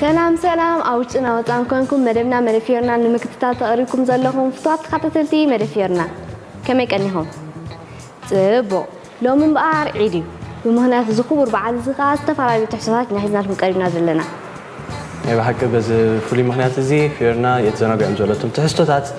ሰላም ሰላም ኣብ ውሽጥን ኣብ ወጻን ኮንኩም መደብና መደፊዮርና ንምክትታል ተቐሪብኩም ዘለኹም ፍትዋት ተኸታተልቲ መደፊዮርና ከመይ ቀኒኹም ጽቡቕ ሎሚ እምበኣር ዒድ እዩ ብምኽንያት እዚ ክቡር በዓል እዚ ከኣ ዝተፈላለዩ ትሕዝቶታት ኢና ሒዝናልኩም ቀሪብና ዘለና ናይ ብሓቂ በዚ ፍሉይ ምኽንያት እዚ ፊዮርና የተዘናግዕም ዘሎትም ትሕዝቶታት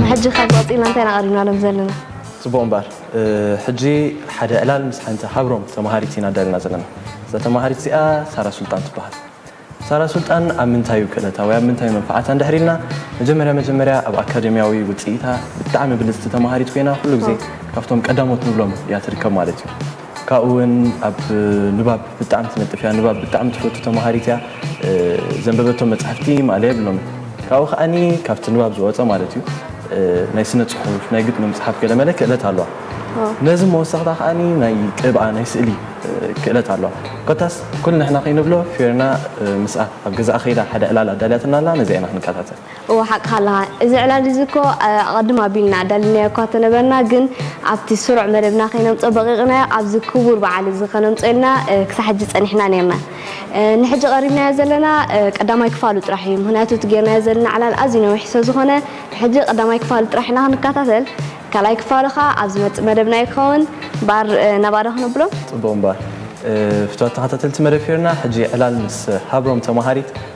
ንሕጂ ካብ ቀጺልና እንታይ ኢና ቀሪብናሎም ዘለና? ጽቡቕ እምበኣር ሕጂ ሓደ ዕላል ምስ ሓንቲ ሃብሮም ተመሃሪት ኢና ኣዳሊና ዘለና። እዛ ተመሃሪት እዚኣ ሳራ ሱልጣን ትበሃል። ሳራ ሱልጣን ኣብ ምንታይ እዩ ክእለታ ወይ ኣብ ምንታይ እዩ መንፍዓታ እንድሕሪ ኢልና መጀመርያ መጀመርያ ኣብ ኣካደምያዊ ውጽኢታ ብጣዕሚ ብልጽቲ ተመሃሪት ኮይና ኩሉ ግዜ ካብቶም ቀዳሞት ንብሎም እያ ትርከብ ማለት እዩ። ካብኡ ውን ኣብ ንባብ ብጣዕሚ ትነጥፍ እያ ንባብ ብጣዕሚ ትፈቱ ተምሃሪት እያ ዘንበበቶም መጻሕፍቲ ማእለያ የብሎምን ካብኡ ከኣኒ ካብቲ ንባብ ዝወጸ ማለት እዩ ናይ ስነ ጽሑፍ ናይ ግጥሚ ምጽሓፍ ገለመለ ክእለት ኣለዋ ነዚ መወሰኽታ ከኣኒ ናይ ቅብኣ ናይ ስእሊ ክእለት ኣለዋ ኮታስ ኩልንሕና ከይንብሎ ፌርና ምስኣ ኣብ ገዛኣ ከይዳ ሓደ ዕላል ኣዳልያትና ኣላ ነዚኣ ኢና ክንከታተል እወ ሓቅኻ ኣለኻ እዚ ዕላል እዚ እኮ ኣቐድም ኣቢልና ኣዳሊናዮ እኳ ተነበርና ግን ኣብቲ ስሩዕ መደብና ከይነምጾ በቒቕናዮ ኣብዚ ክቡር በዓል እዚ ከነምጾ ኢልና ክሳዕ ሕጂ ጸኒሕና ኔርና ንሕጂ ቀሪብናዮ ዘለና ቀዳማይ ክፋሉ ጥራሕ እዩ ምኽንያቱ እቲ ጌርናዮ ዘለና ዕላል ኣዝዩ ነዊሕ ሰዝኾነ ሕጂ ቀዳማይ ክፋሉ ጥራሕ ኢና ክንካታተል ካልኣይ ክፋሉ ከኣ ኣብ ዝመጽእ መደብና እዩ ክኸውን እምበኣር ነባዶ ክነብሎ ጽቡቕ እምበኣር ፍትዋት ተኻታተልቲ መደብ ፌርና ሕጂ ዕላል ምስ ሃብሮም ተማሃሪት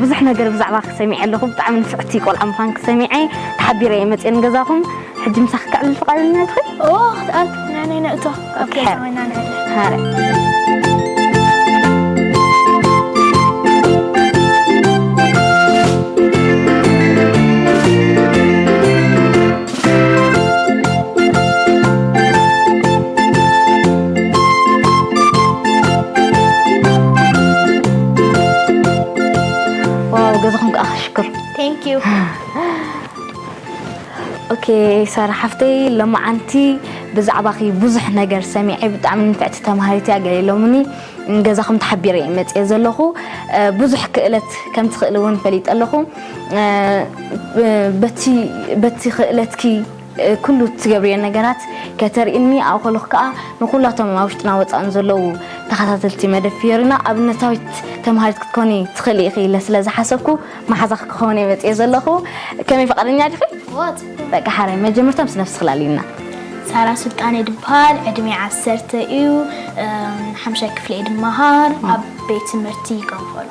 ብዙሕ ነገር ብዛዕባኺ ሰሚዐ ኣለኹ ብጣዕሚ ንፍዕቲ ቆልዓ ምዃንኪ ሰሚዐ ተሓቢረ እየ መፅየ ንገዛኹም ሕጂ ምሳኺ ከዕልል ፍቓደኛ ትኺ ናነይ ነእቶ ኣብ ገዛ ኮይና ዋው ገዛኹም ከዓ ክሽክር ቴንክ ዩ ኦኬ ሳራ ሓፍተይ ሎማዓንቲ ብዛዕባኺ ብዙሕ ነገር ሰሚዐ ብጣዕሚ ንፍዕቲ ተምሃሪት እያ ገለ ኢሎምኒ ገዛኹም ተሓቢረ እየ መፅየ ዘለኹ ብዙሕ ክእለት ከም ትኽእሊ እውን ፈሊጠ ኣለኹ በቲ በቲ ክእለትኪ ኩሉ እትገብርዮ ነገራት ከተርእኒ ኣብኡ ከለኹ ከዓ ንኩላቶም ኣብ ውሽጥና ወፃእን ዘለዉ ተኸታተልቲ መደብ ፍዮሪና ኣብነታዊት ተምሃሪት ክትኮኒ ትኽእሊ ኢኺ ኢለ ስለ ዝሓሰብኩ መሓዛኺ ክኸውን እየ መፅየ ዘለኹ ከመይ ፈቃደኛ ዲኺ? በቃ ሓራይ መጀመርታ ምስ ነፍሲ ክላልይና ሳራ ስልጣን እየ ድበሃል ዕድሜ ዓሰርተ እዩ ሓምሻይ ክፍሊ እየ ድመሃር ኣብ ቤት ትምህርቲ ገንፎሎ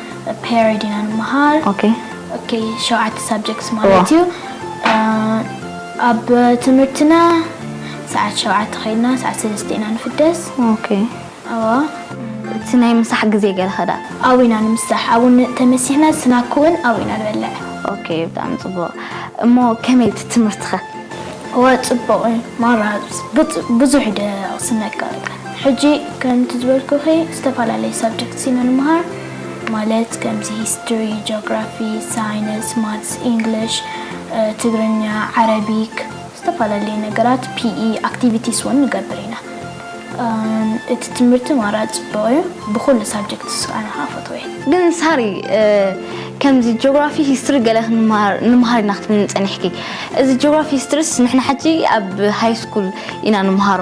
ፔሬድ ኢና ንምሃር ኦኬ ኦኬ ሸውዓተ ሳብጀክትስ ማለት እዩ ኣብ ትምህርትና ሰዓት ሸውዓተ ከይድና ሰዓት ሰለስተ ኢና ንፍደስ ኦኬ ኣዎ እቲ ናይ ምሳሕ ግዜ ገለ ከዳ ኣብኡ ኢና ንምሳሕ ኣብኡ ን- ተመሲሕና ስናክ እውን ኣብኡ ኢና ንበልዕ ኦኬ ብጣዕሚ ጽቡቕ እሞ ከመይ እቲ ትምህርትኸ እወ ጽቡቕ እዩ ማራ ብጽ- ብዙሕ ደ ስነቀ ሕጂ ከምቲ ዝበልኩኺ ዝተፈላለዩ ሳብጀክትስ ኢና ንመሃር ማለት ከምዚ ሂስትሪ፣ ጆግራፊ፣ ሳይንስ፣ ማትስ፣ ኢንግሊሽ፣ ትግርኛ፣ ዓረቢክ ዝተፈላለዩ ነገራት PE ኣክቲቪቲስ ውን ንገብር ኢና። እቲ ትምህርቲ ማራ ጽቡቕ ዩ ብኹሉ ሳብጀክትስ ኣነ ከኣ ፈትወዮ። ግን ሳሪ ከምዚ ጆግራፊ ሂስትሪ ገለ ክንመሃር ንምሃር ኢና ክትብልኒ ጸኒሕኪ እዚ ጆግራፊ ሂስትሪስ ንሕና ሕጂ ኣብ ሃይስኩል ኢና ንምሃሮ።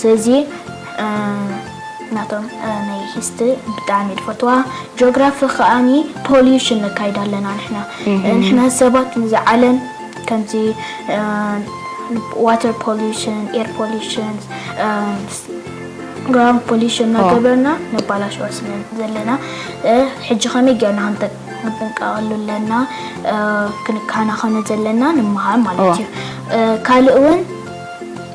ስለዚ ናቶም ናይ ሂስትሪ ብጣዕሚ እየ ዝፈትዋ ጂኦግራፊ ከዓኒ ፖልዩሽን ነካይድ ኣለና ንሕና ንሕና ሰባት ንዚ ዓለም ከምዚ ዋተር ፖልዩሽን ኤር ፖልዩሽን ግራውንድ ፖልዩሽን እናገበርና ነባላሸዋ ስለ ዘለና ሕጂ ከመይ ጌርና ክንጥንቀቐሉ ኣለና ክንከናኸኖ ዘለና ንመሃር ማለት እዩ ካልእ እውን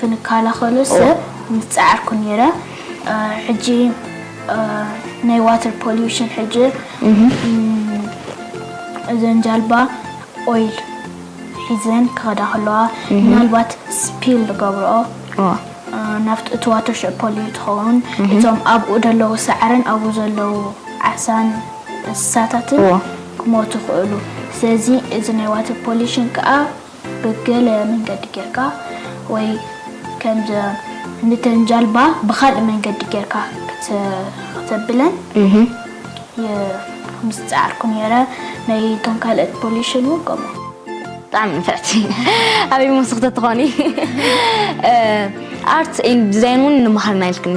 ክንካላኸሎ ሰብ ምስ ጻዓርኩ ነይረ ሕጂ ናይ ዋተር ፖሉሽን ሕጂ እዘን ጃልባ ኦይል ሒዘን ክኸዳ ከለዋ ምናልባት ስፒል ዝገብርኦ ናብቲ እቲ ዋተር ሸ ፖልዩ ትኸውን እቶም ኣብኡ ዘለዉ ሳዕርን ኣብኡ ዘለዉ ዓሳን እንስሳታትን ክሞቱ ይኽእሉ ስለዚ እዚ ናይ ዋተር ፖሉሽን ከዓ ብገለ መንገዲ ጌርካ ወይ ከምዘ ንተን ጃልባ ብካልእ መንገዲ ጌርካ ክተብለን ምስ ጻዓርኩ ኔረ ናይ ቶም ካልእት ፖሊሽን ውን ከምኡ ብጣዕሚ ንፍዕቲ ኣበይ መወስኽቲ ትኾኒ ኣርት ዲዛይን ውን ንመሃር ናይልክኒ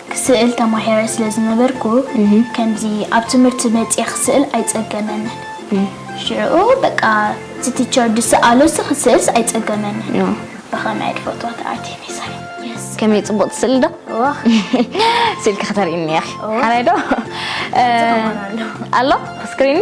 ስእል ተማሂረ ስለ ዝነበርኩ ከምዚ ኣብ ትምህርቲ መጺኤ ክስእል ኣይጸገመንን ሽዑ በቃ እቲ ቲቸር ዝሰኣሎሲ ክስእልሲ ኣይጸገመንን ብኸመይ ትፈትዋ እታ ኣርቴሚስ ከመይ ጽቡቕቲ ስእሊ ዶ ስእልኪ ከተርእይኒ ኢኺ ሓራይ ዶ ኣሎ ስክሪን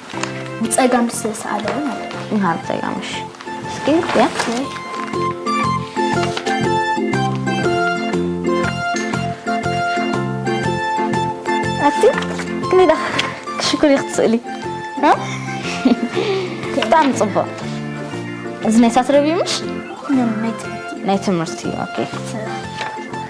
ንጸጋም ስለ ዝሰኣለ ውን ኣሎ። ንሃብ ጸጋም እሺ እስኪ ያ ክሊዳ ክሽኩሪ ክትስእሊ ብጣዕሚ ፅቡቅ እዚ ናይ ሳትረቢ ምሽ ናይ ትምህርቲ ኦኬ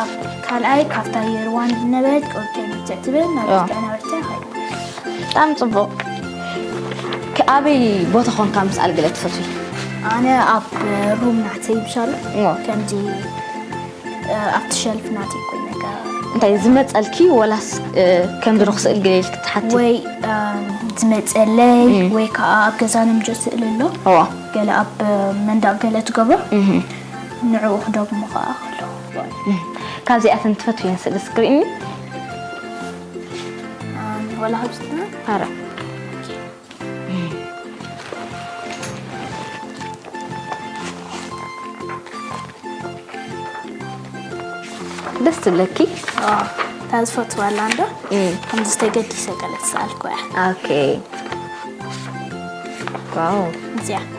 ኣብ ካልኣይ ካብታ የርዋን ዝነበረት ቆብተይ ብርትዕ ትብል ናብ ያ። ምስጋና ብርትዕ ኸይድ ብጣዕሚ ጽቡቕ ኣበይ ቦታ ኾንካ ምስኣል ገለ ትፈትዊ ኣነ ኣብ ሩም ናተይ ብሻሉ እሞ ከምዚ እ፣ ኣብቲ ሸልፍ ናተይ ኮይኑ ነገር እንታይ ዝመጸልኪ ወላስ እ፣ ከምዚ ዶ ክስእል ገለ ኢልክ ትሓቲ ወይ እም፣ ዝመጸለይ እም። ወይ ከዓ ኣብ ገዛ ንምጆ ስእሊ ኣሎ እዎ ገለ ኣብ መንደቕ ገለ ትገብሮ እህ። ንዕኡ ክደግሞ ከኣ ከለኹ ካብዚኣተን ትፈትውየን ስእሊ እስኪ ርእይኒ ወላ ካብዚኣ ኣረ ደስ ትብለኪ እታ ዝፈትዋ ኣላ እንዶ ከምዚ ዝተገዲሰ ገለ ዝሰኣልኩ እያ ኦኬ ዋው እዚኣ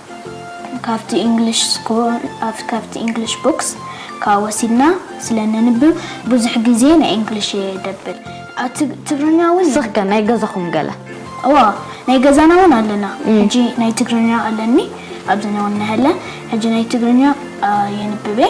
ካብቲ ኢንግሊሽ ስኩል ካብቲ ኢንግሊሽ ቡክስ ካብ ወሲድና ስለ ነንብብ ብዙሕ ግዜ ናይ ኢንግሊሽ እየ ደብል ኣቲ ትግርኛ ውን ንስኺ ከ ናይ ገዛኹም ገለ እወ ናይ ገዛና ውን ኣለና ሕጂ ናይ ትግርኛ ኣለኒ ኣብዘና ውን ነሀለ ሕጂ ናይ ትግርኛ የንብብ እየ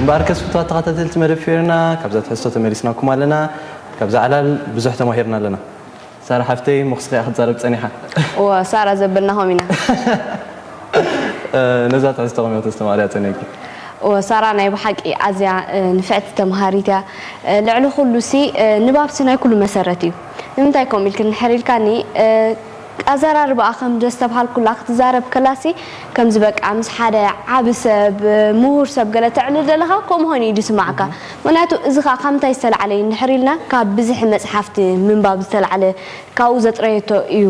እምበኣርከስ ፍቱዋት ተኸታተልቲ መደብ ፌርና ካብዛ ትሕዝቶ ተመሊስናኩም ኣለና። ካብዛ ዕላል ብዙሕ ተማሂርና ኣለና። ሳራ ሓፍተይ እሞ ክስኺ እያ ክትዛረብ ጸኒሓ። እወ ሳራ ዘበልናኹም ኢና። ነዛ ትሕዝቶ ከመይ ከተስተማቕርያ ጸኒሕኪ? እወ ሳራ ናይ ብሓቂ ኣዝያ ንፍዕቲ ተመሃሪት እያ። ልዕሊ ኩሉሲ ንባብሲ ናይ ኩሉ መሰረት እዩ። ንምንታይ ከምኡ ኢልኪ እንድሕር ኢልካኒ፣ ኣዘራርባኣ ከም ዘስተብሃልኩላ ክትዛረብ ከላሲ ከምዚ በቃ ምስ ሓደ ዓቢ ሰብ ምሁር ሰብ ገለ ተዕልል ደለኻ ከምኡ ኮይኑ እዩ ዝስማዓካ ምክንያቱ እዚ ከኣ ካብ ምንታይ ዝተላዕለ እዩ እንድሕር ኢልና ካብ ብዝሒ መጽሓፍቲ ምንባብ ዝተላዕለ ካብኡ ዘጥረየቶ እዩ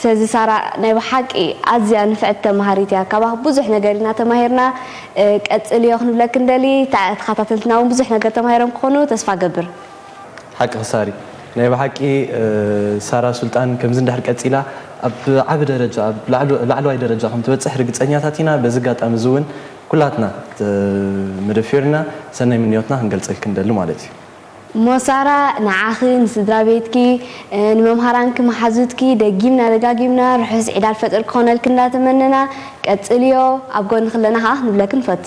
ስለዚ ሳራ ናይ ብሓቂ ኣዝያ ንፍዕቲ ተማሃሪት እያ ካባኺ ብዙሕ ነገር ኢና ተማሂርና ቀጽልዮ ክንብለኪ ንደሊ ተኻታተልትና ውን ብዙሕ ነገር ተማሂሮም ክኾኑ ተስፋ ገብር። ሓቅኺ ሳሪ ናይ ብሓቂ ሳራ ሱልጣን ከምዚ እንድሕር ቀጺላ ኣብ ዓቢ ደረጃ ኣብ ላዕለዋይ ደረጃ ከም ትበጽሕ ርግጸኛታት ኢና በዚ ኣጋጣሚ እዚ ውን ኩላትና መደፊርና ሰናይ ምንዮትና ክንገልጸልኪ ንደሊ ማለት እዩ። እሞ ሳራ ንዓኺ ንስድራቤትኪ ንመምሃራንኪ መሓዙትኪ ደጊምና ደጋጊምና ርሑስ ዒድ ኣልፈጥር ክኾነልኪ እንዳተመነና ቀጽልዮ ኣብ ጎንኺ ኣለና ከኣ ክንብለኪ ንፈቱ።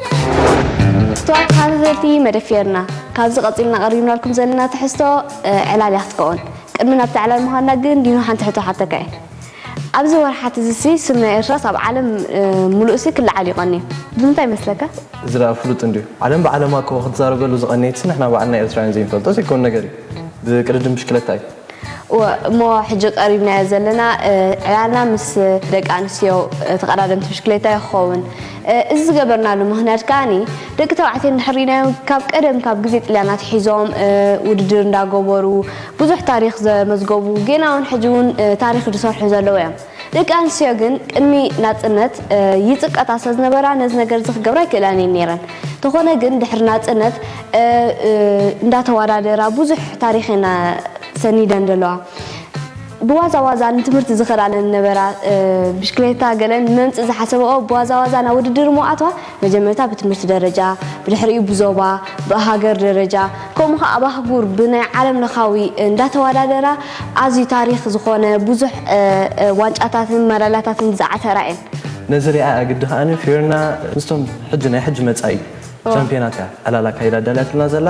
ስትዋት ተኸታተልቲ መደፊርና ካብዚ ቀጺልና ቀሪብናልኩም ዘለና ትሕዝቶ ዕላል እያ ክትከውን ቅድሚ ናብቲ ዕላል ምዃንና ግን ዲኖ ሓንቲ ሕቶ ሓተካ እየ ኣብዚ ወርሓት እዚሲ ስም ናይ ኤርትራስ ኣብ ዓለም ምሉእሲ ክለዓል እዩ ቀንዩ ብምንታይ ይመስለካ? እዚ ደኣ ፍሉጥ እንድዩ ዓለም ብዓለማ እኮ ክትዛረበሉ ዝቀነየትሲ ንሕና ባዕልና ኤርትራውያን ዘይንፈልጦ ዘይከውን ነገር እዩ ብቅድድም ብሽክለታ እዩ። እወ እሞ ሕጂ ቀሪብናዮ ዘለና ዕላልና ምስ ደቂ ኣንስትዮ ተቐዳደምቲ ብሽክሌታ እዩ ክኸውን። እዚ ዝገበርናሉ ምኽንያት ከኣኒ ደቂ ተባዕትዮ እንድሕር ሪኢናዮም ካብ ቀደም ካብ ግዜ ጥልያን ኣትሒዞም ውድድር እንዳገበሩ ብዙሕ ታሪኽ ዘመዝገቡ ጌና እውን ሕጂ እውን ታሪኽ ዝሰርሑ ዘለዉ እዮም። ደቂ ኣንስትዮ ግን ቅድሚ ናጽነት ይጽቀጣ ስለዝነበራ ነዚ ነገር እዚ ክገብራ ኣይክእላን እየን ነይረን። ተኾነ ግን ድሕሪ ናጽነት እንዳተዋዳደራ ብዙሕ ታሪኽ እየን ሰኒደን ዘለዋ። ብዋዛ ዋዛ ንትምህርቲ ዝኸዳለን ዝነበራ ብሽክሌታ ገለን ንመምጽእ ዝሓሰበኦ ብዋዛ ዋዛ ናብ ውድድር እሞ ኣትዋ። መጀመርታ ብትምህርቲ ደረጃ፣ ብድሕሪኡ ብዞባ፣ ብሃገር ደረጃ ከምኡ ከኣ ኣብ ኣህጉር ብናይ ዓለም ለኻዊ እንዳተዋዳደራ ኣዝዩ ታሪኽ ዝኾነ ብዙሕ ዋንጫታትን መዳልያታትን ብዝዓተራ እየን። ነዚ ሪኣያ ግዲ ከኣ ፊዮሪና ምስቶም ሕጂ ናይ ሕጂ መጻኢ ቻምፕዮናት እያ ዕላል ኣካይዳ ኣዳልያትልና ዘላ።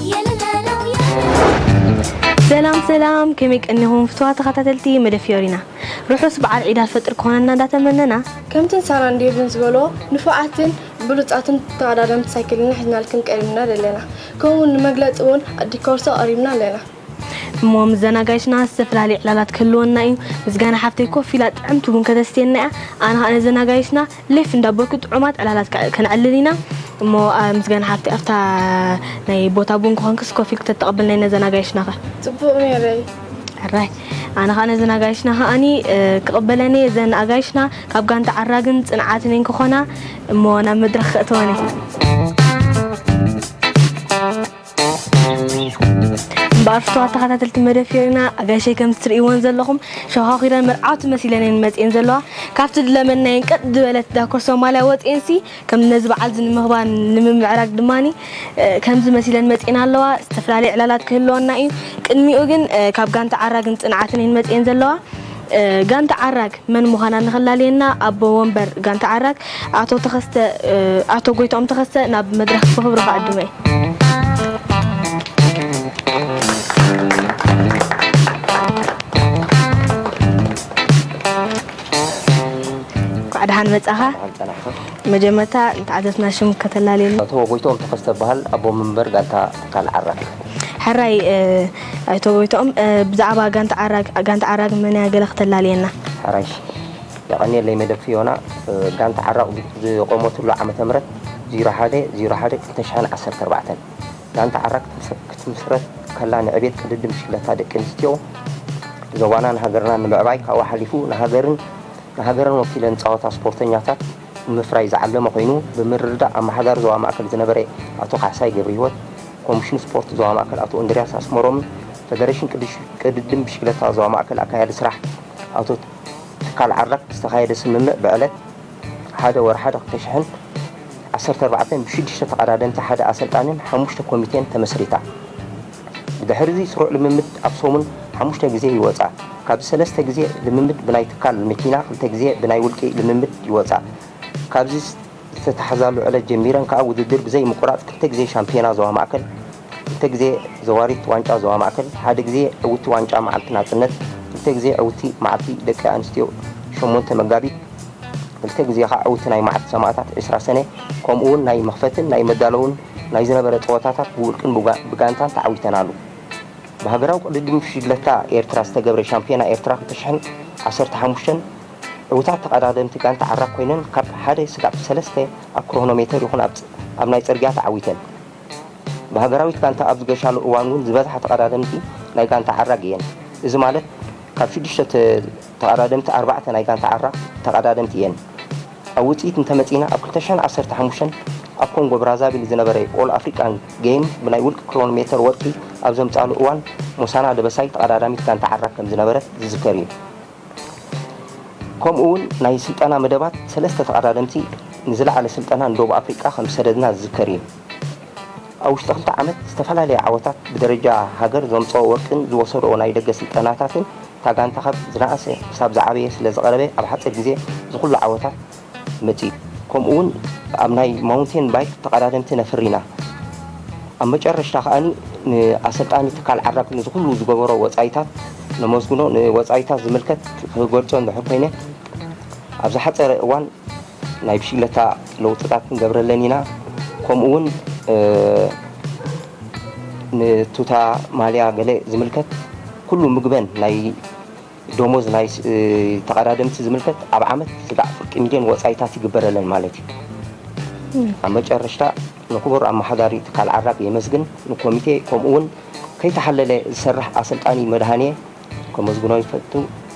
ሰላም ሰላም ከመይ ቀኒኹም ፍትዋ ተኸታተልቲ መደ ፊዮሪና ርሑስ በዓል ዒድ ኣልፈጥር ክኾነና እንዳተመነና ከምተን ሳራን ዴቭን ዝበልዎ ንፉዓትን ብሉጻትን ተቐዳደምቲ ሳይክልና ሒዝናልክን ቀሪብና ኣለና ከምኡውን ንመግለጺ እውን ኣዲኮርሶ ቀሪብና ኣለና እሞ ምዘናጋይትና ዝተፈላለዩ ዕላላት ክህልወና እዩ ምስጋና ሓፍተይ ኮፍ ኢላ ጥዕምቲ ቡን ከተስትየና እያ ኣነ ከዓ ነዘናጋይትና ሌፍ እንዳ ኣበልኩ ጥዑማት ዕላላት ከነዕልል ኢና እሞ ምስጋና ሓፍተይ ኣብታ ናይ ቦታ ቡን ክኾንክስ ኮፍ ኢልኪ ተተቐብልናይ ነዘን ኣጋይሽና ከ ጽቡቕ ኔረይ ሕራይ ኣነ ከዓ ነዘን ኣጋይሽና ከዓኒ ክቕበለን እየ ዘን ኣጋይሽና ካብ ጋንታ ዓራግን ጽንዓትን እየን ክኾና እሞ ናብ መድረኽ ከእተወን እየ እምበኣር ፍቱዋት ተኸታተልቲ መደብ ፊዮሪና ኣጋይሸይ ከምቲ ትርእይወን ዘለኹም ሸዃኺረን መርዓውቲ መሲለን እየን መጺኤን ዘለዋ ካብቲ ዝለመድናየን ቀጥ ዝበለት ዳኮር ሶማልያ ወጺኤንሲ ከም ነዚ በዓል እዚ ንምኽባር ንምምዕራግ ድማ ከምዚ መሲለን መጺኤን ኣለዋ ዝተፈላለየ ዕላላት ክህልወና እዩ ቅድሚኡ ግን ካብ ጋንታ ዓራግን ጽንዓትን እየን መጺኤን ዘለዋ ጋንታ ዓራግ መን ምዃና ንኽላለየና ኣቦ ወንበር ጋንታ ዓራት ኣቶ ተኸስተ ኣቶ ጎይትኦም ተኸስተ ናብ መድረኽ ብኽብሪ ክዕድሞ እየ። እንኳዕ ደሓን መጻኻ። በዓል ጸናሕካ መጀመርታ ንተዓዘብትና ሽም ከተላለየልና ኣቶ ጎይትኦም ተኸስተ እበሃል ኣቦ መንበር ጋንታ ትካል ዓራት። ሕራይ ኣይተ ጎይትኦም፣ ብዛዕባ ጋንታ ዓራግ፣ ጋንታ ዓራግ መን እያ ገለ ክተላልየና? ኣራንሺ፣ የቐንየለይ መደብ ፍዮና። ጋንታ ዓራግ ዝቖመትሉ ዓመተ ምህረት ዜሮ ሓደ ዜሮ ሓደ ክልተ ሽሕን ዓሰርተ ኣርባዕተን። ጋንታ ዓራግ ክትምስረት ከላ ንዕቤት ቅድድም ብሽክለታ ደቂ ኣንስትዮ ዞባናን ሃገርናን ንምዕባይ ካብኡ ሓሊፉ ንሃገርን ንሃገርን ወኪለን ዝጻወታ ስፖርተኛታት ንምፍራይ ዝዓለመ ኮይኑ ብምርድዳእ ኣመሓዳሪ ዞባ ማእከል ዝነበረ ኣቶ ካሕሳይ ገብሪሂወት፣ ኮሚሽን ስፖርት ዞባ ማእከል ኣቶ እንድርያስ ኣስመሮምን ፈደረሽን ቅድድም ብሽክለታ ዞባ ማእከል ኣካያዲ ስራሕ ኣቶ ትካል ዓርዳክ ብዝተኻየደ ስምምዕ ብዕለት ሓደ ወርሓ ክልተ ሽሕን ዓሰርተ ኣርባዕተን ብሽዱሽተ ተቐዳደምቲ ሓደ ኣሰልጣኒን ሓሙሽተ ኮሚቴን ተመስሪታ። ድሕሪ'ዚ ስሩዕ ልምምድ ኣብ ሰሙን ሓሙሽተ ግዜ ይወጻ። ካብዚ ሰለስተ ግዜ ልምምድ ብናይ ትካል መኪና ክልተ ግዜ ብናይ ውልቂ ልምምድ ይወጻ። ካብዚ ዝተታሕዛሉ ዕለት ጀሚረን ከኣ ውድድር ብዘይ ምቁራጽ ክልተ ግዜ ሻምፕዮና ዞባ ማእከል፣ ክልተ ግዜ ዘዋሪት ዋንጫ ዞባ ማእከል፣ ሓደ ግዜ ዕውቲ ዋንጫ መዓልቲ ናጽነት፣ ክልተ ግዜ ዕውቲ መዓልቲ ደቂ ኣንስትዮ ሸሞንተ መጋቢት፣ ክልተ ግዜ ከኣ ዕውቲ ናይ መዓልቲ ሰማእታት ዕስራ ሰነ ከምኡ'ውን ናይ መኽፈትን ናይ መዳለውን ናይ ዝነበረ ጸወታታት ብውልቅን ብጋንታን ተዓዊተናሉ። ብሃገራዊ ቅድድም ብሽግለታ ኤርትራ ዝተገብረ ሻምፕዮና ኤርትራ ክልተ ሽሕን ዓሰርተ ሓሙሽተን ዕውታት ተቐዳደምቲ ጋንታ ዓራግ ኮይነን ካብ ሓደ ስጋብ ሰለስተ ኣብ ክሮኖሜተር ይኹን ኣብ ናይ ጽርግያ ተዓዊተን። ብሃገራዊት ጋንታ ኣብ ዝገሻሉ እዋን ውን ዝበዝሓ ተቐዳደምቲ ናይ ጋንታ ዓራግ እየን። እዚ ማለት ካብ ሽዱሽተ ተቐዳደምቲ ኣርባዕተ ናይ ጋንታ ዓራ ተቐዳደምቲ እየን። ኣብ ውጽኢት እንተመጺእና ኣብ ክልተ ሽሕን ዓሰርተ ሓሙሽተን ኣብ ኮንጎ ብራዛቪል ዝነበረ ኦል ኣፍሪቃን ገይም ብናይ ውልቂ ክሮን ሜተር ወርቂ ኣብ ዘምጽኣሉ እዋን ሞሳና ደበሳይ ተቐዳዳሚት ጋንታ ዓራ ከም ዝነበረት ዝዝከር እዩ። ከምኡ እውን ናይ ስልጠና መደባት ሰለስተ ተቐዳደምቲ ንዝለዓለ ስልጠና ንደቡብ ኣፍሪቃ ከም ዝሰደድና ዝዝከር እዩ። ኣብ ውሽጢ ክልተ ዓመት ዝተፈላለየ ዓወታት ብደረጃ ሃገር ዘምፀኦ ወርቂን ዝወሰድኦ ናይ ደገ ስልጠናታትን እታ ጋንታ ካብ ዝነኣሰ ክሳብ ዝዓበየ ስለዝቐረበ ኣብ ሓፂር ግዜ ዝኹሉ ዓወታት መፂኡ። ከምኡ እውን ኣብ ናይ ማውንቴን ባይክ ተቐዳደምቲ ነፍሪና። ኣብ መጨረሽታ ከኣ ንኣሰልጣኒ ትካል ዓራግ ንዝኹሉ ዝገበሮ ወፃኢታት ነመስግኖ። ንወፃኢታት ዝምልከት ክገልፆ እንድሕር ኮይነ ኣብ ዝሓፀረ እዋን ናይ ብሽግለታ ለውጥታት ክንገብረለን ኢና ከምኡ እውን ንቱታ ማልያ ገለ ዝምልከት ኩሉ ምግበን ናይ ደሞዝ ናይ ተቐዳደምቲ ዝምልከት ኣብ ዓመት ስጋዕ ፍርቂ ሚልዮን ወፃኢታት ይግበረለን ማለት እዩ ኣብ መጨረሽታ ንክቡር ኣመሓዳሪ ትካል ዓራግ የመስግን ንኮሚቴ ከምኡ እውን ከይተሓለለ ዝሰርሕ ኣሰልጣኒ መድሃኔ ከመስግኖ ይፈቱ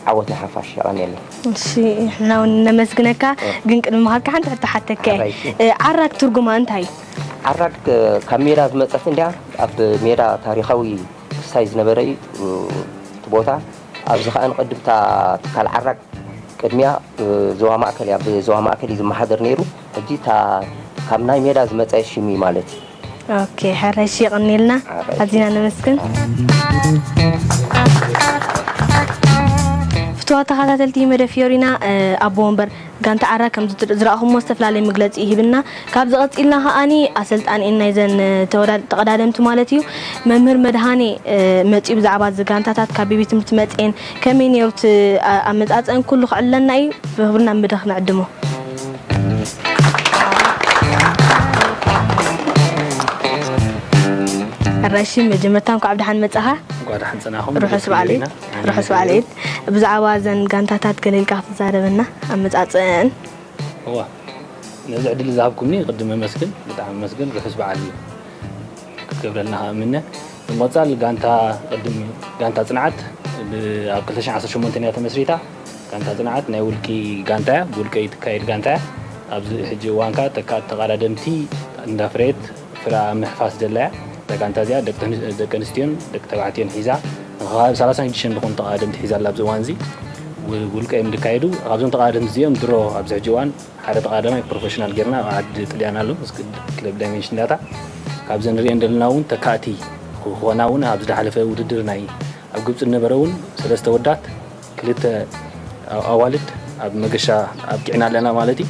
ዓወት ንሓፋሽ የቀንየለይ እሺ ንሕና እውን ነመስግነካ ግን ቅድሚ ምኻድካ ሓንቲ ሕቶ ሓተከ ሓራይቲ። እ፣ ዓራግ ትርጉማ እንታይ እዩ ዓራግ እ፣ ካብ ሜዳ ዝመፀት እንድያ ኣብ ሜዳ ታሪኻዊ ክስታይ ዝነበረ እዩ እ፣ እቲ ቦታ ኣብዚ ከዓ ንቅድም እታ ትካል ዓራግ ቅድሚያ እ፣ ዞባ ማእከል እያ ብዞባ ማእከል እዩ ዝመሓደር ነይሩ ሕጂ እታ ካብ ናይ ሜዳ ዝመጸ ሽም እዩ ማለት እዩ። ኦኬ ሕረሽ የቕንየልና ኣዚና ነመስግን። ፍቱዋት ተኻታተልቲ መደብ ፍዮሪና ኣቦ ወንበር ጋንታ ዓራ ከም ዝራእኹሞ ዝተፍላለየ መግለጺ እዩ ሂብና ካብዚ ቀጺልና ከኣኒ ኣሰልጣኒኤን ናይዘን ተቐዳደምቲ ማለት እዩ መምህር መድሃኔ መጺኡ ብዛዕባ እዚ ጋንታታት ካብ ቤቤት ትምህርቲ መጺኤን ከመይ ኔሩ እቲ ኣመጻጽኣን ኩሉ ክዕለና ኢዩ ብክብሪ ናብ መድረክ ንዕድሞ። ኣራይሺ መጀመርታ እንኳዕ ብደሓን መጻኻ እንኳዕ ደሓን ጸናኹም ርሑስ በዓል ዒድ ርሑስ በዓል ዒድ ብዛዕባ እዘን ጋንታታት ገለ ኢልካ ክትዛረበና ኣመጻጽእን እዋ ነዚ ዕድል ዝሃብኩምኒ ቅድም ኣመስግን ብጣዕሚ ኣመስግን ርሑስ በዓል ክትገብረልና ከዓ እምነ ብምቕፃል ጋንታ ቅድም ጋንታ ፅንዓት ብ ኣብ ክልተ ሽሕን ዓሰርተ ሸሞንተን እያ ተመስሪታ። ጋንታ ፅንዓት ናይ ውልቂ ጋንታ እያ፣ ብውልቀ እትካየድ ጋንታ እያ። ኣብዚ ሕጂ እዋን ከኣ ተካእቲ ተቓዳደምቲ እንዳፍረየት ፍረኣ ኣብ ምሕፋስ ዘላ እያ። እዛ ጋንታ እዚኣ ደቂ ኣንስትዮን ደቂ ተባዕትዮን ሒዛ ንከባቢ ሰላሳን ሽዱሽተን ዝኾኑ ተቓዳደምቲ ሒዛ ኣላ። ኣብዚ እዋን እዚ ብ ውልቀ እዮም ዝካየዱ። ካብዞም ተቓዳደምቲ እዚኦም ድሮ ኣብዚ ሕጂ እዋን ሓደ ተቓዳማይ ፕሮፈሽናል ጌርና ኣብ ዓዲ ጥልያን ኣሎ ክለብ ዳይመንሽን ዳታ ካብዘን ንሪኤን ዘለና እውን ተካእቲ ክኾና እውን ኣብ ዝደሓለፈ ውድድር ናይ ኣብ ግብፂ ዝነበረ እውን ሰለስተ ወዳት ክልተ ኣዋልድ ኣብ መገሻ ኣብቂዕና ኣለና ማለት እዩ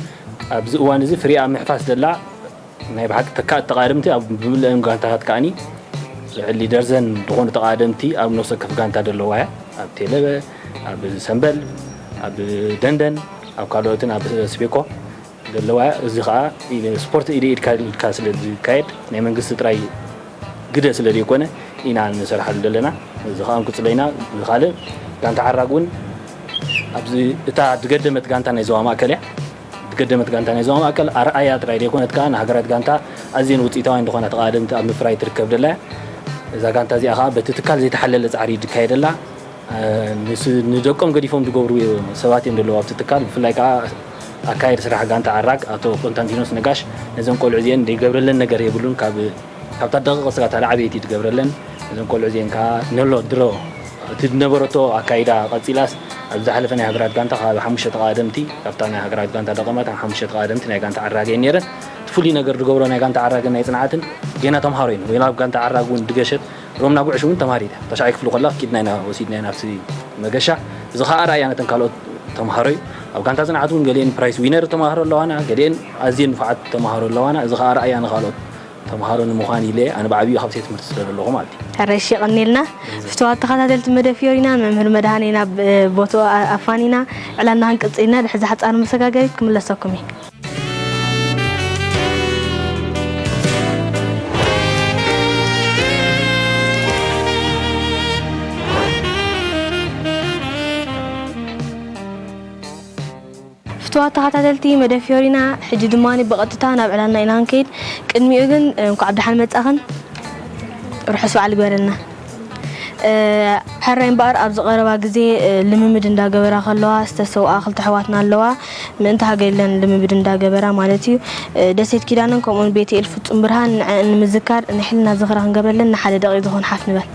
ኣብዚ እዋን እዚ ፍሪኣ ምሕፋስ ዘላ ናይ ብሓቂ ተካእቲ ተቓደምቲ ኣብ ብምልእን ጋንታታት ከኣኒ ልዕሊ ደርዘን ዝኾኑ ተቓደምቲ ኣብ ነፍሰ ወከፍ ጋንታ ዘለዋ እያ ኣብ ቴለበ ኣብ ሰምበል ኣብ ደንደን ኣብ ካልኦትን ኣብ ስቤኮ ዘለዋ እያ እዚ ከዓ ስፖርት ኢደ ኢድካ ኢድካ ስለ ዝካየድ ናይ መንግስቲ ጥራይ ግደ ስለ ዘይኮነ ኢና ንሰርሓሉ ዘለና እዚ ከዓ እንቅፅሎ ኢና ካልእ ጋንታ ዓራግ እውን ኣብዚ እታ ድገደመት ጋንታ ናይ ዞባ ማእከል እያ ዝገደመት ጋንታ ናይ ዞባ ማእከል ኣርኣያ ጥራይ ዘይኮነት ከኣ ንሃገራት ጋንታ ኣዝየን ውጽኢታውያን ዝኾና ተቐዳደምቲ ኣብ ምፍራይ ትርከብ ደላ እያ። እዛ ጋንታ እዚኣ ከኣ በቲ ትካል ዘይተሓለለ ጻዕሪ እዩ ዝካየደላ። ንደቆም ገዲፎም ዝገብሩ ሰባት እዮም ዘለዉ ኣብቲ ትካል። ብፍላይ ከኣ ኣካያዲ ስራሕ ጋንታ ኣራግ ኣቶ ኮንታንቲኖስ ነጋሽ ነዘን ቆልዑ እዚኤን ዘይገብረለን ነገር የብሉን ካብ ካብታ ደቂቕ እስካ እታ ላዕበይቲ ትገብረለን እዘን ቆልዑ እዚኤን ከኣ ንሎ ድሮ እቲ ዝነበረቶ ኣካይዳ ቀጺላስ ኣብዚ ዝሓለፈ ናይ ሃገራት ጋንታ ከባቢ ሓሙሽተ ተቓዋደምቲ ካብታ ናይ ሃገራት ጋንታ ደቐማት ኣብ ሓሙሽተ ተቓዋደምቲ ናይ ጋንታ ዓራግ እየን ነይረን እቲ ፍሉይ ነገር ዝገብሮ ናይ ጋንታ ዓራግን ናይ ጽንዓትን ጌና ተምሃሮ ኢና ጌና ኣብ ጋንታ ዓራግ እውን ድገሸት ሮምና ጉዕሽ እውን ተምሃሪት እያ ተሻዓይ ክፍሊ ከላ ኪድና ኢና ወሲድና ኢና ኣብቲ መገሻ እዚ ከኣ ኣርኣያ ነተን ካልኦት ተምሃሮ እዩ ኣብ ጋንታ ጽንዓት እውን ገሊኤን ፕራይስ ዊነር ተማሃሮ ኣለዋና ገሊኤን ኣዝየን ንፉዓት ተማሃሮ ኣለዋና እዚ ከኣ ኣርኣያ ንካልኦት ተምሃሮ ንምዃን ኢለ ኣነ ብዓቢኡ ካብ ቤት ትምህርቲ ስለ ዘለኹ ማለት እዩ። ሕረሽ የቐንየልና ፍትዋት ተኸታተልቲ መደብ ፍዮሪና መምህር መድሃኔ ናብ ቦትኡ ኣፋኒና ዕላልና ክንቅጽል ኢና ድሕሪ እዛ ሓጻር መሰጋገሪት ክምለሰኩም እየ። ፍቱዋት ተኻታተልቲ መደብ ፍዮሪና ሕጂ ድማ ብቐጥታ ናብ ዕላልና ኢና ክንከይድ ቅድሚኡ ግን እንኳዕ ብደሓን መጻኽን ርሑስ በዓል ይግበረልና ሕራይ እምበኣር ኣብዚ ቀረባ ግዜ ልምምድ እንዳ ገበራ ከለዋ ዝተሰውኣ ክልተ ኣሕዋትና ኣለዋ ምእንቲ ሃገር ኢለን ልምምድ እንዳ ገበራ ማለት እዩ ደሴት ኪዳነን ከምኡውን ቤትኤል ፍጹም ብርሃን ንዐኣን ንምዝካር ናይ ሕልና ዝኽሪ ክንገብረለን ንሓደ ደቒቕ ዝኾን ሓፍ ንበል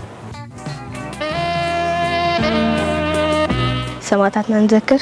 ሰማእታትና ንዘክር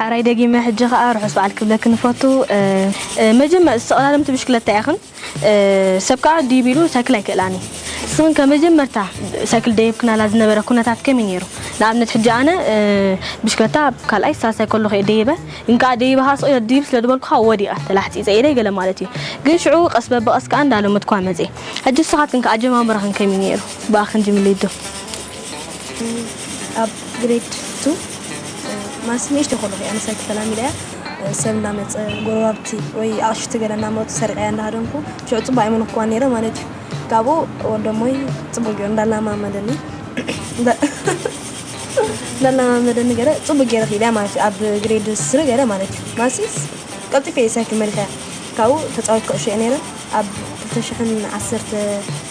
ሕራይ ደጊመ ሕጂ ከኣ ርሑስ በዓል ክብለክን እፈቱ። መጀመ ተቐዳደምቲ ብሽክለታ ኢኽን፣ ሰብ ከኣ ድይብ ኢሉ ሳይክል ኣይክእላን እዩ። ንስኽን ከ መጀመርታ ሳይክል ደይብክናላ ዝነበረ ኩነታት ከመይ ነይሩ? ንኣብነት ሕጂ ኣነ ብሽክለታ ኣብ ካልኣይ ሳልሳይ ከለኹ እየ ደይበ፣ ግን ከኣ ደይበ ከኣ ስቕ ኢለ ድይብ ስለ ዝበልኩ ከኣ ወዲቐ ተላሕጺጸ ኢደይ ገለ ማለት እዩ። ግን ሽዑ ቀስ በብቐስ ከኣ እንዳለመድኩዋ መጼ። ሕጂ ንስኻትክን ከ ኣጀማምራኽን ከመይ ነይሩ? ብኣኽን ጅምሊዶ። ኣብ ግሬድ ቱ ማስ ንእሽተይ ከለኹ እያ ንሳይ ተተላሚደያ ሰብ እናመፀ ጎረባብቲ ወይ ኣቕሽቲ ገለ እናመፁ ሰርቀያ እንዳሃደምኩ ሽዑ ፅቡቅ ኣይመነኩዋ ነይረ ማለት እዩ ካብኡ ወደሞይ ፅቡቅ ገይሩ እንዳላማመደኒ እንዳላማመደኒ ገለ ፅቡቅ ገይረ ክኢለያ ማለት እዩ ኣብ ግሬድ ስሪ ገለ ማለት እዩ ማሲስ ቀልጢፈ እየ ሳይ ክመልከያ ካብኡ ተፃወት ኩዕሾ እየ ነይረ ኣብ 2010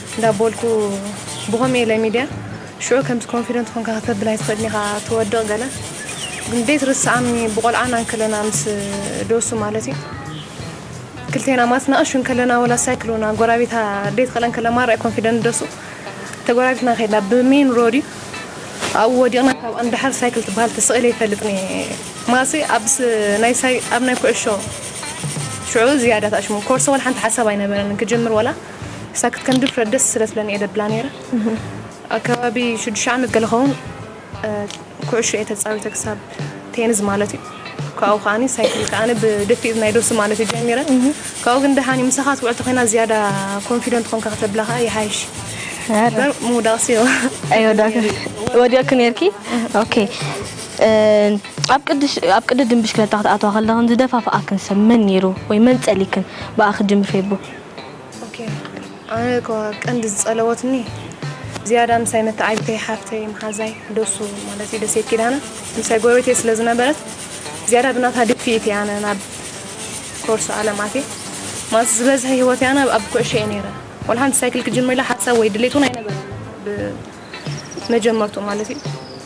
እንዳቦልኩ ብኮምየ ኢለ ሚድያ ሽዑ ከምዚ ኮንፊደንት ኮንካ ከተብል ኣይትክእልን ኢካ ትወድቅ ገለ ግን ደይ ትርስዓኒ ብቆልዓና እንከለና ምስ ዶሱ ማለት እዩ ክልቴና ማለት ናኣሹ እንከለና ወላ ሳይክል ወና ጎራቤታ ደይ ትክእለን ከለ ማራ ኮንፊደንት ደሱ ተጎራቤትና ከይድና ብሜን ሮድ እዩ ኣብኡ ወዲቕና ካብ ኣንዳሓር ሳይክል ትበሃል ተሰቒለ ይፈልጥኒ ማሲ ኣብስ ናይ ሳይ ኣብ ናይ ኩዕሾ ሽዑ ዝያዳ ታሽሙ ኮርሶ ወላ ሓንቲ ሓሳብ ኣይነበረን ክጅምር ወላ ሳክት ከም ድፍረት ደስ ስለ ስለኒ እየ ደብላ ነይረ ኣብ ከባቢ ሽዱሽተ ዓመት ገለ ኸውን ኩዕሾ እየ ተፃዊተ ክሳብ ቴንዝ ማለት እዩ ካብኡ ከዓኒ ሳይክል ከዓኒ ብደፊእ ናይ ዶሲ ማለት እዩ ጀሚረ ካብኡ ግን ደሓን እዩ ምሳኻ ትውዕል ተኮይና ዝያዳ ኮንፊደንት ኮንካ ከተብላ ከዓ ይሓይሽ ምውዳቕሲ ዮ ኣይወዳክ ወዲቕኪ ነርኪ ኦኬ ኣብ ቅድሽ ኣብ ቅድድም ብሽክለታ ክትኣተዋ ከለኽን ዝደፋፍኣክን ሰብ መን ነይሩ ወይ መን ጸሊክን ብኣ ክትጅምር ፌቡ ኦኬ ኣነ እኮ ቀንዲ ዝጸለወትኒ ዝያዳ ምሳይ መተዓቢተይ ሓፍተይ መሓዛይ ደሱ ማለት እዩ ደሴት ኪዳነ ምሳይ ጎረቤተይ ስለ ዝነበረት ዝያዳ ብናታ ድፍኢት እየ ኣነ ናብ ኮርሶ ዓለም ኣትየ ማለት ዝበዝሐ ሂወተይ ኣነ ኣብ ኩዕሾ እየ ነይረ ወላ ሓንቲ ሳይክል ክጅምር ኢለ ሓሳብ ወይ ድሌት እውን ኣይነበረኒ መጀመርትኡ ማለት እዩ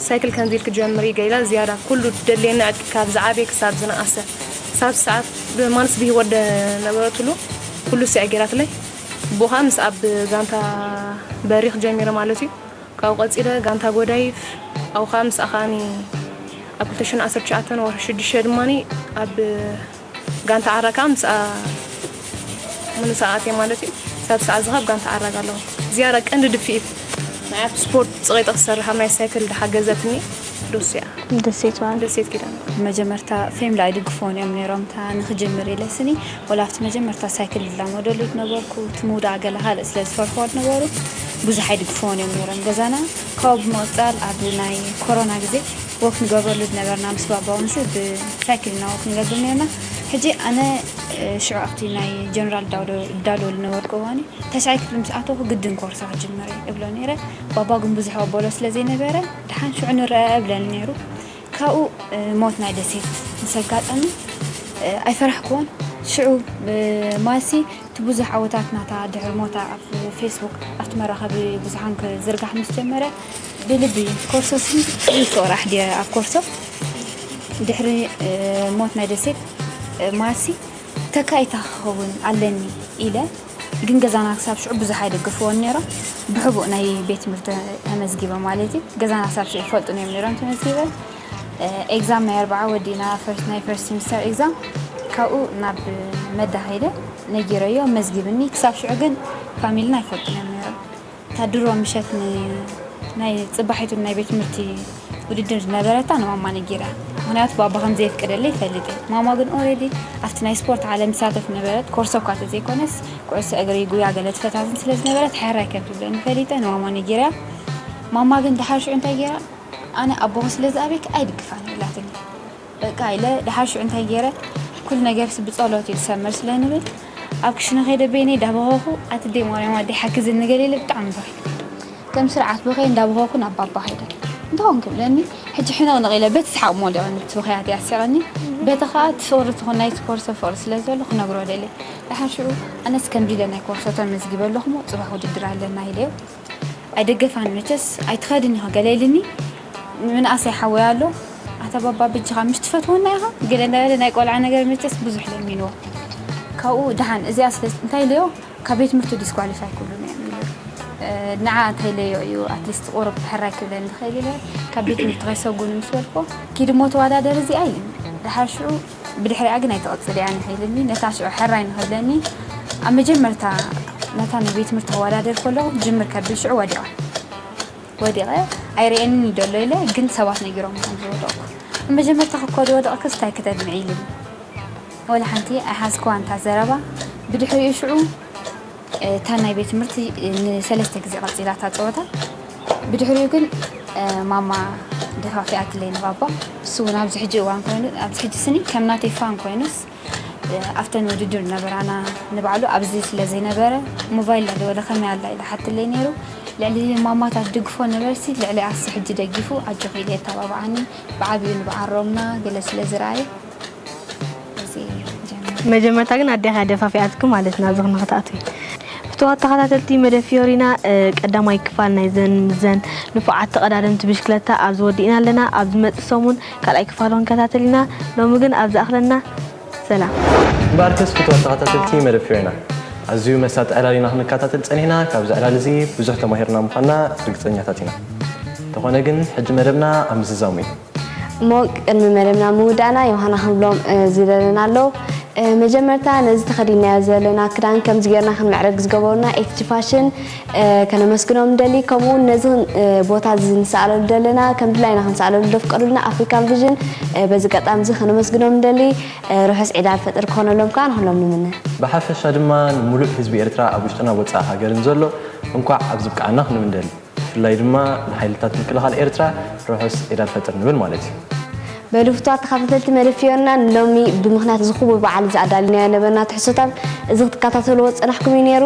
ሳይክል ከምዚ ኢልኪ ጀምሪ ገይላ ዝያዳ ኩሉ ደልየና ዕጥቂ ካብ ዝዓበየ ክሳብ ዝነኣሰ ክሳብ ዝሰዓብ ብማንስ ብሂወት ነበረትሉ ኩሉ ሲያ ገይራትለይ ብኡ ከዓ ምስ ኣብ ጋንታ በሪኽ ጀሚረ ማለት እዩ ካብኡ ቀፂለ ጋንታ ጎዳይፍ ኣብኡ ከዓ ምስኣ ከዓኒ ኣብ 2019 ወርሒ ሽዱሽተ ድማኒ ኣብ ጋንታ ዓራ ከኣ ምስኣ ምንሳ ኣትየ ማለት እዩ። ክሳብ ሰዓት እዚ ካብ ጋንታ ዓራ ጋሎም ዝያዳ ቀንዲ ድፍኢት ናይ ኣብቲ ስፖርት ጽቂጠ ክሰርሕ ኣብ ናይ ሳይክል ድሓገዘትኒ ዶሱ እያ። ደሴት በዓል። ደሴት ኪዳነ። መጀመርታ ፌምሊ ኣይድግፍዎን እዮም ነይሮም እታ ንክጅምር ኢለ ስኒ ወላ ኣብቲ መጀመርታ ሳይክል ዝላመደሉ ዝነበርኩ እቲ ምውዳእ ገለ ካልእ ስለ ዝፈርሕዎ ዝነበሩ ብዙሕ ኣይድግፍዎን እዮም ነይሮም ገዛና ካብኡ ብምቕጻል ኣብ ናይ ኮሮና ግዜ ወክ ንገብረሉ ዝነበርና ምስ ባባ ወንሲ ብሳይክል እና ወክ ንገብር ነርና ሕጂ ኣነ ሽዑ ኣብቲ ናይ ጀነራል ዳውዶ እዳለወሉ ነበርኩ እዋኒ ተስዓይ ክፍሊ ምስ ኣተኹ ግድን ኮርሳ ክጅምር እብሎ ነይረ ባባ ግን ብዙሕ ኣበሎ ስለ ዘይነበረ ድሓን ሽዑ ንረኣ እብለኒ ነይሩ ካብኡ ሞት ናይ ደሴት ምስ ኣጋጠመ ኣይፈራሕክዎን ሽዑ ማሲ እቲ ብዙሕ ዓወታት ናታ ድሕሪ ሞታ ኣብ ፌስቡክ ኣብቲ መራኸቢ ብዙሓን ክዝርጋሕ ምስ ጀመረ ብልቢ ኮርሶ ስም ሪኮ ራሕ ድየ ኣብ ኮርሶ ድሕሪ ሞት ናይ ደሴት ማርሲ ተካኢታ ክኸውን ኣለኒ ኢለ ግን ገዛና ክሳብ ሽዑ ብዙሕ ኣይደገፍዎን ነይሮም ብሕቡእ ናይ ቤት ትምህርቲ ተመዝጊበ ማለት እዩ ገዛና ክሳብ ሽዑ ይፈልጡን እዮም ነይሮም ተመዝጊበ ኤግዛም ናይ ኣርባዓ ወዲና ናይ ፈርስት ሚስተር ኤግዛም ካብኡ ናብ መዳ ከይደ ነጊረዮ መዝጊብኒ ክሳብ ሽዑ ግን ፋሚልና ኣይፈልጡን እዮም ነይሮም እታ ድሮ ምሸት ንናይ ጽባሒቱ ንናይ ቤት ትምህርቲ ውድድር ዝነበረታ ንማማ ነጊራ ምክንያቱ ባባ ከም ዘየፍቅደለይ ይፈልጥ እየ ማማ ግን ኦሬዲ ኣብቲ ናይ ስፖርት ዓለም ትሳተፍ ነበረት ኮርሶ እኳ ተዘይኮነስ ኩዕሶ እግሪ ጉያ ገለ ትፈታትን ስለ ዝነበረት ሕራይ ከም ትብለኒ ፈሊጠ ንማማ ነጊራ ማማ ግን ድሓር ሽዑ እንታይ ገይራ ኣነ ኣቦኺ ስለ ዝኣበይኪ ኣይድግፋን ኢላትኒ በቃ ኢለ ደሓር ሽዑ እንታይ ገይረ ኩሉ ነገርሲ ብጸሎት እዩ ዝሰምር ስለ ንብል ኣብ ክሽነ ከይደ በይነይ ዳበኸኹ ኣትደይ ማርያም ኣደይ ሓግዝኒ ገለ ኢለ ብጣዕሚ በኺ ከም ስርዓት በኸየ እንዳበኸኹ ናብ ባባ ከይደ እንታይ ኮንክ ብለኒ ሕጂ ሕንቕንቕ ኢለ በቲ ሰሓቕ ሞሊቐኒ እቲ ብኽያተይ ኣሲቐኒ በቲ ከኣ እቲ ፍቕሪ ትኹን ናይቲ ኮርሶ ፍቕሪ ስለ ዘሎ ክነግሮ ደልየ ደሓር ሽዑ ኣነስ ከምዚ ኢለ ናይ ኮርሶ ተመዝጊበ ኣለኹሞ ጽባሕ ውድድር ኣለና ኢለዮ ኣይደገፋን መቸስ ኣይትኸድን ኢኻ ገለ ኢልኒ ምንኣሰይ ሓወይ ኣሎ ኣታ ባባ በጃኻ ምሽ ትፈትወና ኢኻ ገለ እንዳበለ ናይ ቆልዓ ነገር መቸስ ብዙሕ ለሚንዎ ካብኡ ደሓን እዚኣ ስለ እንታይ ኢለዮ ካብ ቤት ትምህርቱ ዲስኳሊፋይ ክብሉኒ እዮም ኢሉ ንዓ እንታይ ኢለዮ እዩ ኣትሊስት ቁሩብ ሕራይ ክብለኒ ዝኽእል ኢለ ካብ ቤት ትምህርቲ ከይሰጉኒ ምስ በልኩዎ ኪድ እሞ ተወዳደር እዚኣ ኢልኒ ደሓር ሽዑ ብድሕሪኣ ግን ኣይተቐጽልያን ኢኻ ኢሉኒ። ነታ ሽዑ ሕራይ ንኽብለኒ ኣብ መጀመርታ ነታ ናይ ቤት ትምህርቲ ከወዳድር ከለኹ ክጅምር ከብል ሽዑ ወዲቐ ወዲቐ ኣይርእየንን እዩ ደሎ ኢለ ግን ሰባት ነጊሮም ከም ዝወደቕኩ ኣብ መጀመርታ ክኮ ዝወደቕክስ እንታይ ክተድምዒ ኢሉኒ። ወላ ሓንቲ ኣይሓዝክዋን እታ ዘረባ። ብድሕሪኡ ሽዑ። እታ ናይ ቤት ትምህርቲ ንሰለስተ ግዜ ቀጺላ እታ ጸወታ ብድሕሪኡ ግን ማማ ደፋፊኣትለይ ንባባ ንሱ እውን ኣብዚ ሕጂ እዋን ኮይኑ ኣብዚ ሕጂ ስኒ ከም ናተይ ፋን ኮይኑስ ኣብተን ውድድር ነበራና ንባዕሉ ኣብዚ ስለ ዘይነበረ ሞባይል ለለወለ ከመይ ኣላ ኢለ ሓትለይ ነይሩ ልዕሊ ማማታት ድግፎ ነበርሲ ልዕሊ ኣሲ ሕጂ ደጊፉ ኣጆኺ ኢለ የተባብዓኒ ብዓብዩ ንብዓሮምና ገለ ስለ ዝረኣየ መጀመርታ ግን ኣዴኻ ደፋፊኣትኪ ማለት ናብዚ ክንክትኣትዊ ፍትዋት ተኸታተልቲ መደብ ፊዮሪና ቀዳማይ ክፋል ናይዘን ምዘን ንፉዓት ተቐዳደምቲ ብሽክለታ ኣብዚ ወዲእና ኣለና ኣብ ዝመፅእ ሰሙን ካልኣይ ክፋል ክንከታተል ኢና ሎሚ ግን ኣብ ዝኣኽለና ሰላም ባርከስ ፍትዋት ተኸታተልቲ መደብ ፊዮሪና ኣዝዩ መሳጢ ዕላል ኢና ክንከታተል ፀኒሕና ካብዚ ዕላል እዚ ብዙሕ ተማሂርና ምዃንና ርግፀኛታት ኢና እንተኾነ ግን ሕጂ መደብና ኣብ ምዝዛሙ እዩ እሞ ቅድሚ መደብና ምውዳእና ዮሃና ክንብሎም ዝደለና ኣሎ መጀመርታ ነዚ ተኸዲናዮ ዘለና ክዳን ከምዚ ጌርና ክንምዕረግ ዝገበሩና ኤትጂ ፋሽን ከነመስግኖም ንደሊ ከምኡ እውን ነዚ ቦታ እዚ ንሰኣለሉ ዘለና ከም ድላይና ክንሰኣለሉ ዘፍቀዱልና ኣፍሪካን ቪዥን በዚ ገጣሚ እዚ ከነመስግኖም ንደሊ ርሑስ ዒድ ኣልፈጥር ክኾነሎም ከዓ ንኹሎም ንምነ ብሓፈሻ ድማ ንሙሉእ ህዝቢ ኤርትራ ኣብ ውሽጥን ኣብ ወፃኢ ሃገርን ዘሎ እንኳዕ ኣብዚ ብቅዓና ክንብል ንደሊ ብፍላይ ድማ ንሓይልታት ምክልኻል ኤርትራ ርሑስ ዒድ ኣልፈጥር ንብል ማለት እዩ። በሉ ፍቱዋት ተኻታተልቲ መደብ-ፍዮና ንሎሚ ብምኽንያት እዚ ክቡር በዓል እዚ ኣዳሊናዮ ነበርና ትሕዝቶታት እዚ ክትካታተልዎ ዝጸናሕኩም እዩ ነይሩ።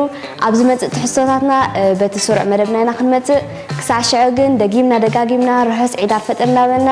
ኣብ ዝመጽእ ትሕዝቶታትና በቲ ስሩዕ መደብና ኢና ክንመጽእ። ክሳዕ ሽዑ ግን ደጊምና ደጋጊምና ርሑስ ዒድ ኣልፈጥር እንዳበልና